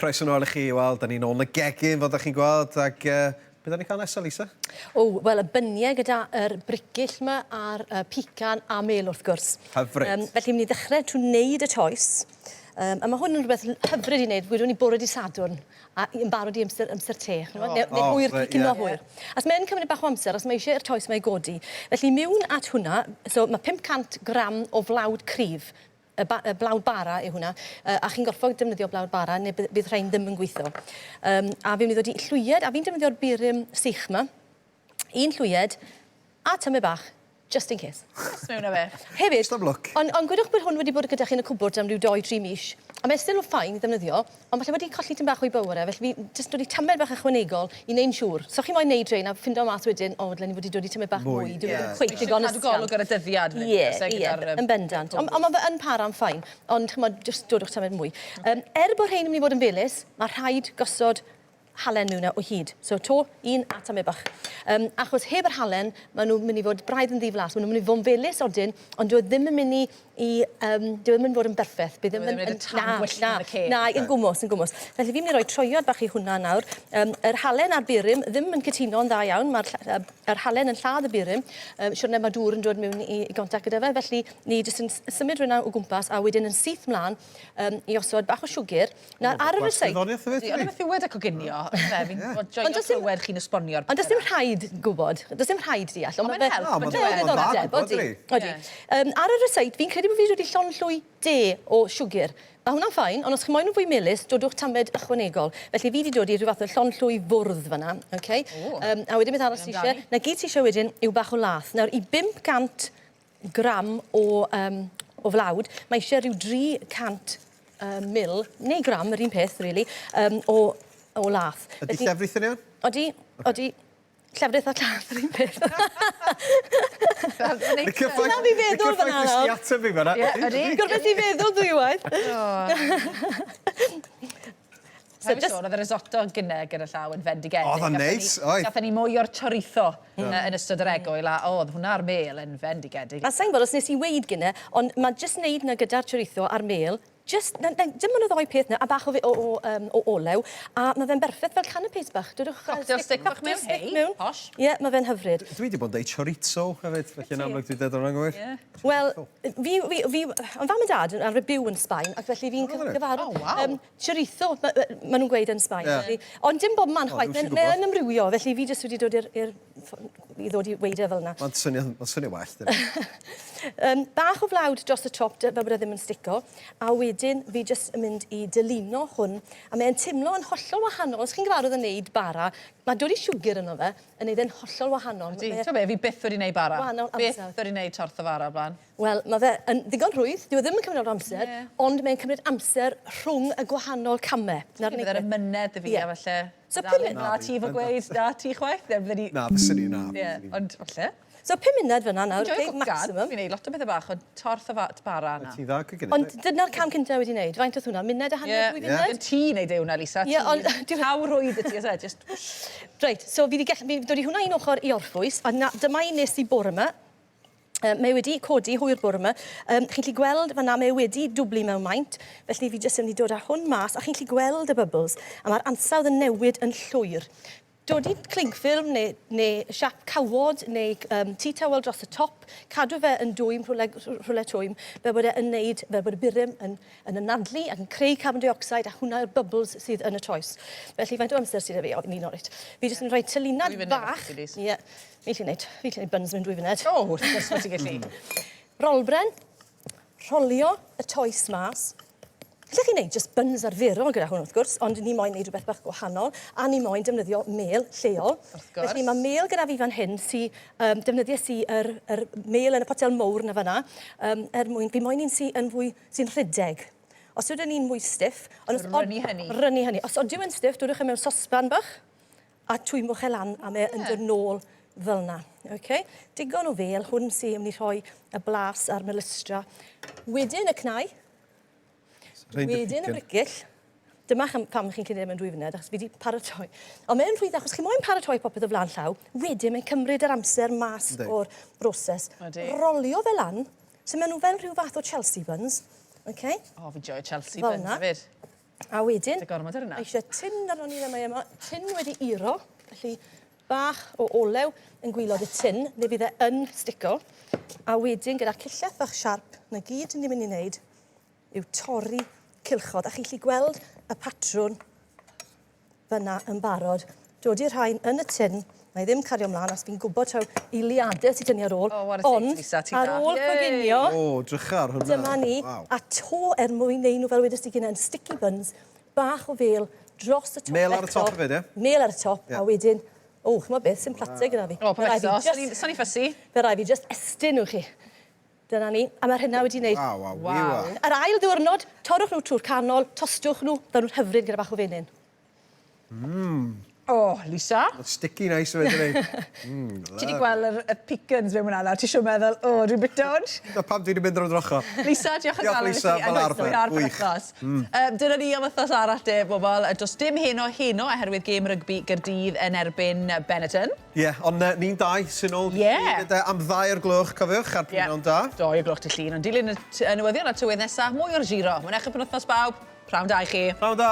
Croeso nôl i chi, wel, da ni'n ôl yn y gegin, fel da chi'n gweld, ac uh, beth da ni'n cael nesaf, Lisa? O, wel, y byniau gyda'r er brigill yma a'r uh, pican a mel, wrth gwrs. Hyfryd. Um, felly, mynd i ddechrau trwy wneud y toes. Um, a mae hwn yn rhywbeth hyfryd i wneud, gwydwn ni bore di Sadwrn, a i yn barod i amser amser te ch'mod ne- neu hwyr cyn cino hwyr. Achos mae yn cymryd bach o amser os mae isie i'r toes 'ma i godi. Felly miwn at hwnna so ma' 500 gram o flawd cryf y ba- y blawd bara yw hwnna yy a chi'n gorffod defnyddio blawd bara ne' by- bydd rhein ddim yn gwitho. Yym a fi myn' i ddod i llwyed a fi'n defnyddio'r burum sych 'ma un llwyed a tyme bach, just in case. Just mewn a fe. Hefyd... Just am lwc. Ond ond gwedwch bod hwn wedi bod gyda chi yn y cwbwrd am ryw dou, tri mis, a mae still yn fine i ddefnyddio, ond falle wedi colli tym bach o'i bowr e, felly fi jyst wedi tamed bach ychwanegol i neu'n siŵr. So chi moyn neud rhein a ffindo mas wedyn, o, dyle ni wedi dod i tymed bach mwy. Mwy, ie. Dyw e ddim cweit digon ysgafn. Isio cadw golwg ar y dyddiad wedyn Ie, ie, gyda'r yym cwbwrd. Yn bendant. Ond ond ma' fe yn para'n fine, ond ch'mod, jyst dodwch tamed mwy. Yym, er bo rhein yn myn' i fod yn felys, ma' rhaid gosod halen mewn o hyd. So to un at amebach. Um, achos heb yr halen, maen nhw'n mynd i fod braidd yn ddiflas. Maen nhw'n mynd i fod yn felus odyn, ond dwi e ddim yn mynd i... i um, dwi e ddim yn fod yn berffaith. Bydd e ddim yn mynd y tan gwyllt yn y ceg. Na, yn gwmwys, yn gwmwys. Felly fi'n mynd i roi troiad bach i hwnna nawr. Um, yr halen a'r burum ddim yn cytuno'n dda iawn. Mae'r halen yn lladd y burum. Um, siwrne mae dŵr yn dod mewn i, i gontact gyda fe. Felly ni jyst yn symud rhywun o gwmpas a wedyn yn syth mlaen um, i osod bach o siwgr Nawr ar yr aside... Ond y beth yw wedi coginio ynde fi'n gwbod joio clywed chi'n esbonio'r pethe 'na. Ond does dim rhaid gwbod does dim rhaid deall ond ma' fe'n help on'd yw e? Ma'n dda gwbod odi. Odi. Yym ar yr aside fi'n credu bo' fi wedi llonllwy de o siwgyr. Ma' hwnna'n fine ond os chi moyn yn fwy melys dodwch tamed ychwanegol. Felly fi 'di dod i rhyw fath o llonllwy fwrdd fan 'na oce? Ww. Yym a wedyn beth arall ti isie? 'Na gyd ti isie wedyn yw bach o lath. Nawr i bump gant gram o, um, o flawd, mae eisiau rhyw 300 uh, mil, neu gram, yr un peth, really, um, o, o lath. Ydy llefrith yn iawn? Odi, okay. odi. Llefrith a llath, yr un peth. Y cyffaith... Na, fi feddwl fan anodd. Y cyffaith fi fan anodd. Gorfod ti feddwl dwywaith. So just... Oedd y risotto gyne gyda llaw yn fendigedig. Oedd o'n neis, oedd. Gathen ni mwy o'r chorizo yn ystod yr egwyl a oedd hwnna a'r mêl yn fendigedig. A sa i'n gwybod os nes i weud gyne, ond ma' jyst neud 'na gyda'r chorizo a'r mêl, jyst, na, na, dim ond y ddou peth 'na a bach o fe- o o yym o olew, a ma' fe'n berffeth fel canapes bach. Dudwch fel... Cocktail stick bach mewn, hei, posh. Ie, ma' fe'n hyfryd. Dwi 'di bod yn deud chorizo hefyd, felly yn amlwg dwi'n deud o'n anghywir. Ie. Wel, fi, fi, fi, o'dd mam a dad yn arfer byw yn Sbaen ac felly fi'n cyfarfod... O waw! Chorizo, ma- ma- ma' nhw'n gweud yn Sbaen. Ie. Ond dim bob man chwaith. O, dwi'm isio gwbod. Mae yn ymrywio, felly fi jyst wedi dod i'r... i'r ffo- i ddod i weud e fel 'na. Mae'n swnio... mae'n swnio well, dyna. Yym, bach o flawd dros y top, dy- fel bod e ddim yn stico, a wedyn fi jyst yn mynd i dylino hwn, a mae e'n timlo yn hollol wahanol. Os chi'n gyfarwydd â neud bara, ma' dod i siwgr ynddo fe yn neud e'n hollol wahanol. Ydi. T'mo' be', fi byth wedi neud bara. Wahanol amser. Byth wedi neud torth o fara o'r bla'n. Wel, mae fe yn ddigon rhwydd, dyw e ddim yn cymryd lot o amser... Ie. ...ond mae'n cymryd amser rhwng y gwahanol camau. Ti'n gwybod yr amynedd 'da fi a falle... Ie. ...so pum mun-... Na, ti efo gweud 'na ti chwaith neu blydi... Na, fyswn i, na. Ie, ond falle. So pum munud fynna nawr, ok, maximum. Dwi'n joio cwcan, fi'n neud lot o bethe bach ond torth a fa- t- bara na. Wyt ti dda cwcan 'fyd? Ond dyna'r cam cynta wedi neud, faint odd hwnna, munud a hanner, dwy funud? Ie, ie. Ond ti'n neud e hwnna Lisa, ti... Ie, ond dwi... Llaw rhwydd 'da ti o's e, jyst whoosh. Reit, so fi 'di gell- fi 'di dod i hwnna un ochor i orffwys a 'na dyma un nes i bore 'ma. Um, mae wedi codi hwyr bore yma. Um, chi'n lli gweld fanna, mae wedi dwblu mewn maint, felly fi jyst yn mynd i dod â hwn mas, a chi'n lli gweld y bubbles, a mae'r ansawdd yn newid yn llwyr. Dod i cling film neu, neu siap cawod neu um, tea towel dros y top, cadw fe yn dwym rhywle, rhywle twym, fel bod e'n neud, fel bod y burum yn, yn ynadlu ac yn creu carbon dioxide a hwnna yw'r bubbles sydd yn y toes. Felly faint o amser sydd â fi? O, fi'n un o'r reit. Fi jyst yn rhoi tylinad bach. Ie. Fi gallu neud, fi gallu neud buns mewn dwy funed. O, wrth gwrs bo' ti'n gallu. Hmm. Rolbren, rholio y toes mas. Gallech chi neud jyst buns arferol gyda hwn wrth gwrs, ond ni moyn neud rhywbeth bach gwahanol, a ni moyn defnyddio mêl lleol. Wrth gwrs. Felly mae mêl gyda fi fan hyn sy um, defnyddio si yr, yr mêl yn y potel mowr na fanna, um, er mwyn, fi moyn un sy yn fwy, sy'n rhedeg. Os ydyn ni'n mwy stiff... Rynnu hynny. Rynnu hynny. Os ydyn ni'n stiff, dwrwch e mewn sosban bach, a twymo fe lan a mae yn dod nôl fel yna. Okay? Digon o fel, hwn sy'n mynd i rhoi y blas a'r melystra. Wedyn y cnau, wedyn y bricyll. Dyma pam chi'n cynnig e mewn dwy funud, achos fi wedi paratoi. Ond mae'n rhwydd, achos chi moyn paratoi popeth o flaen llaw, wedyn mae'n cymryd yr amser mas o'r broses. Rolio fe lan, so maen nhw fel rhyw fath o Chelsea buns. Okay? O, fi joio Chelsea buns hefyd. A wedyn... Dy gormod ar hynna. ...eisiau tin arno ni le mae yma. Tin wedi uro, felly bach o olew yn gwylod y tin, fe fydd e yn stico. A wedyn gyda cillell fach siarp, 'na gyd ni'n mynd i wneud yw torri cylchod. A chi'n gallu gweld y patrwn fyna yn barod. Dodi rhain yn y tin, mae ddim cario mlaen, os fi'n gwybod taw eiliadau sy'n tynnu ar ôl, oh, ond ar ôl coginio, oh, drychar, hwnna. dyma ni, wow. a to er mwyn neud nhw fel wedys ti gynnau'n sticky buns, bach o fel dros y top Mel ar y top hefyd, ie? Mel ar y top, yeah. a wedyn, o, oh, chymod beth, sy'n plateg gyda fi. O, oh, pa eto, sa'n i'n ffysi. Fe rai fi just estyn nhw chi. Dyna ni. A mae'r hynna wedi wneud... Waw, waw, waw, waw. Yr ail ddiwrnod, torrwch nhw trwy'r canol, tostiwch nhw, maen nhw'n hyfryd gyda bach o fenyn. Mmm. O, Lisa. Mae'n sticky nice o fe, dydi? Mmm, lyfli. Ti 'di gweld yr y pecans mewn fan'na nawr, ti siŵr meddwl, o, dwi'n bita hwn? Dyna pam dwi 'di mynd ar y drocho. Lisa, diolch o galon i ti. Diolch Lisa, fel arfer, gwych. Mmm. Yym, dyna ni am wythnos arall de, bobl. Does dim heno heno oherwydd gêm rygbi Gaerdydd yn erbyn Benetton. Ie, ond uh, ni'n dau sy'n ôl Ie. Ie. de, am ddau o'r gloch, cofiwch, ar Ie. pwynawn da. Do, i'r gloch dy llun, ond dilyn y t- y newyddion a tywydd nesa, mwy o'r giro. Mae'n eich penwthnos bawb, prawn da i chi. Prawn da!